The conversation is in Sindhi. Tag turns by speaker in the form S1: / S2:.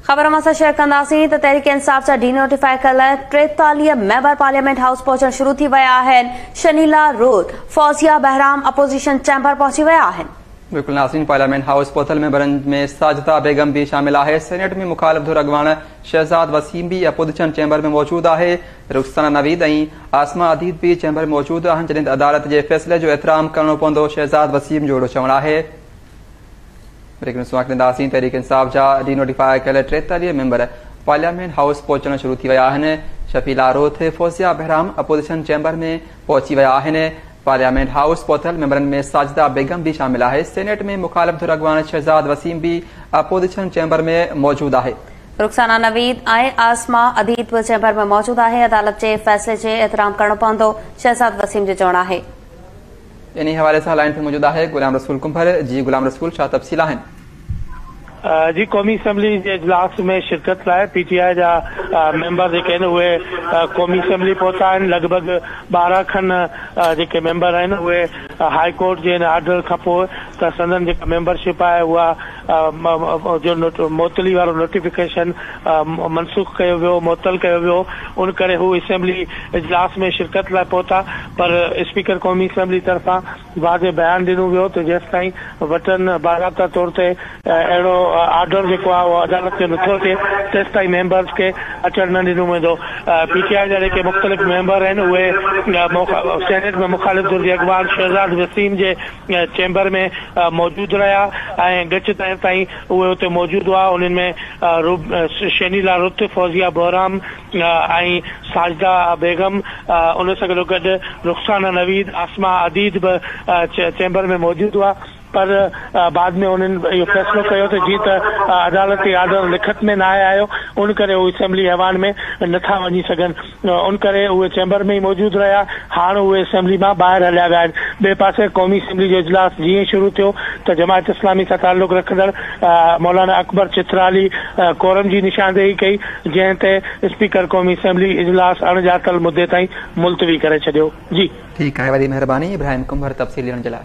S1: خبر اوهان سان شيئر ڪنداسين ته تحريڪ انصاف جا ڊي نوٽيفاء ڪيل ٽيتاليهه ميمبر پارليامينٽ هائوس پهچڻ شروع ٿي ويا آهن، شنيلا روت، فوزيه بهرام اپوزيشن چيمبر پهچي ويا آهن. بلڪل ناسرين پارليامينٽ
S2: هائوس پهتل ميمبرن ۾ ساجده بيگم به شامل آهي، سينيٽ ۾ مخالف ڌر اڳواڻ شهزاد وسيم به اپوزيشن چيمبر ۾ موجود آهي، رخسانه نويد ۽ عاصمه اديب به چيمبر ۾ موجود آهن جڏهن ته عدالت جي فيصلي جو احترام ڪرڻو پوندو شهزاد وسيم جو اهڙو چوڻ آهي. بريڪنگ نيوز سان ڏينداسين تحريڪ انصاف جا ڊي نوٽيفاء ڪيل ٽيتاليهه ميمبر پارليامينٽ هائوس پهچڻ شروع ٿي ويا آهن شفيع لاروٿ فوزيا بهرام اپوزيشن چيمبر ۾ پهچي ويا آهن پارليامينٽ هائوس پهتل ميمبرن ۾ ساجده بيگم به شامل آهي سينيٽ ۾ مخالف ڌر اڳواڻ شهزاد وسيم به اپوزيشن چيمبر ۾ موجود آهي رخسانه نويد
S1: ۽ عاصمه اديد به چيمبر ۾ موجود آهي عدالت جي فيصلي جي احترام ڪرڻو پوندو شهزاد وسيم جو چوڻ آهي انهي
S2: حوالي سان لائن تي موجود آهي غلام رسول ڪنڀر، جي غلام رسول ڇا تفصيل آهن؟
S3: جي قومي اسيمبلي جي اجلاس ۾ شرڪت لاء پي ٽي آء جا ميمبر جيڪي آهن اهي قومي اسيمبلي پهتا آهن لڳ ڀڳ ٻارهن کن جيڪي ميمبر آهن اهي هاء ڪورٽ جي ان آرڊر کانپوء ته سندن جيڪا ميمبر شپ آهي اها جو معطلي وارو نوٽيفڪيشن منسوخ ڪيو ويو، معطل ڪيو ويو، ان ڪري هو اسيمبلي اجلاس ۾ شرڪت لاء پهتا پر اسپيڪر قومي اسيمبلي طرفان واضح بيان ڏنو ويو ته جيستائين وٽن باضابطه طور تي اهڙو آرڊر جيڪو آهي اهو عدالت ۾ نٿو اچي تيستائين ميمبرز کي اچڻ نه ڏنو ويندو. پي ٽي آء جا جيڪي مختلف ميمبر آهن اهي سينيٽ ۾ مخالف ڌر جي اڳواڻ شهزاد وسيم جي چيمبر ۾ موجود رهيا ۽ ڳچ تائين تائين اهي اتي موجود هئا، انهن ۾ شينيلا رت، فوزيه بهرام ۽ ساجده بيگم، ان سان گڏو گڏ رخسانه نويد، عاصمه عديد به چيمبر ۾ موجود هئا، پر بعد ۾ انهن اهو فيصلو ڪيو ته جيئن ته عدالتي آرڊر لکت ۾ ناهي آيو، ان ڪري هو اسيمبلي ايوان ۾ نٿا وڃي سگهن، ان ڪري اهي چيمبر ۾ ئي موجود رهيا. هاڻ اهي اسيمبلي مان ٻاهر هليا ويا آهن. ٻئي پاسي قومي اسيمبلي جو اجلاس جيئن ئي شروع ٿيو ته جماعت اسلامي سان تعلق رکندڙ مولانا اڪبر چترالي ڪورم جي نشاندهي ڪئي، جنهن تي اسپيڪر قومي اسيمبلي اجلاس اڻ ڄاتل مدي تائين ملتوي ڪري
S2: ڇڏيو. جي. ٺيڪ
S3: آهي.
S2: وڏي
S3: مهرباني
S2: ابراهيم ڪنڀر تفصيل
S3: ڏيڻ جي
S2: لاء.